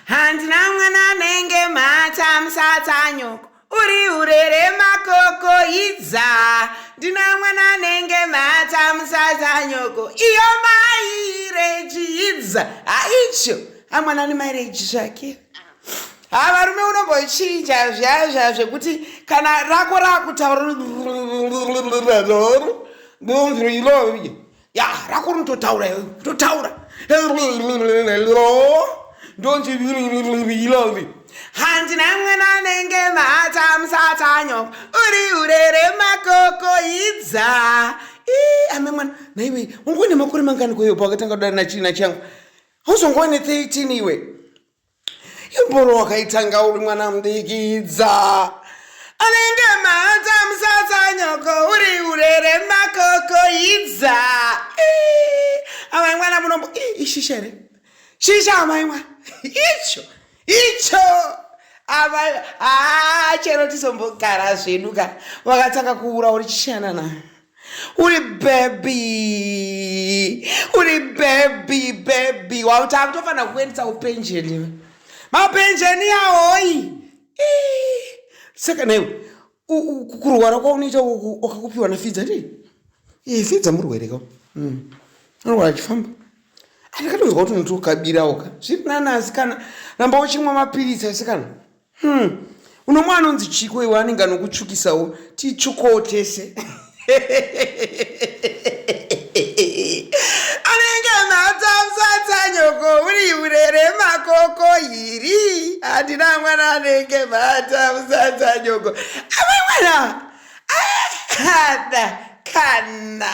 handina mwana anenge mhata musatsanyoko uri urere makoko idza ndina mwana anenge mhata musatsanyoko iyo maireji idza haicho amwana ane maireji zvake ha varume unombochinja zviyayo zviya zvekuti kana rako rakutaura ndonzwi ilovi ya rako rinototaura totaura ndonzi ilovi hanzi namwana anenge mhata musatanyo uri urere makoko idza ame mwana naiwe unguva nemakore mangani kweyopa wakatanga kudana nachii nachangu hauzongova ne 13 iwe imboro wakaitanga uri mwana mudikidza anenge maata musasa nyoko uri urere makoko idza amai mwana munombo ishisha here shisha amai mwana icho icho amai haa chero tizombogara zvedu ka wakatanga kuura uri chishanana uri bhebhi uri bhebhi bhebhi wautaa kutofanira kuendesa upenjeni iwe mapenjeni yahoyi saka naiwe kurwara kwaunoita wakakupiwa nafidza ti eh, fidza murwere ka hmm. anorwara achifamba andikatonzwa kuti unoti ukabirawo ka zviri nani asikana ramba uchimwa mapiritsi asikana Hmm. Unomwe anonzi chiko iwe anenge anokutsvukisawo titsvukowo tese. anenge matamsatanyoko uri urere makoko iri handina mwana anenge matamsatanyoko amwe mwana ahada kana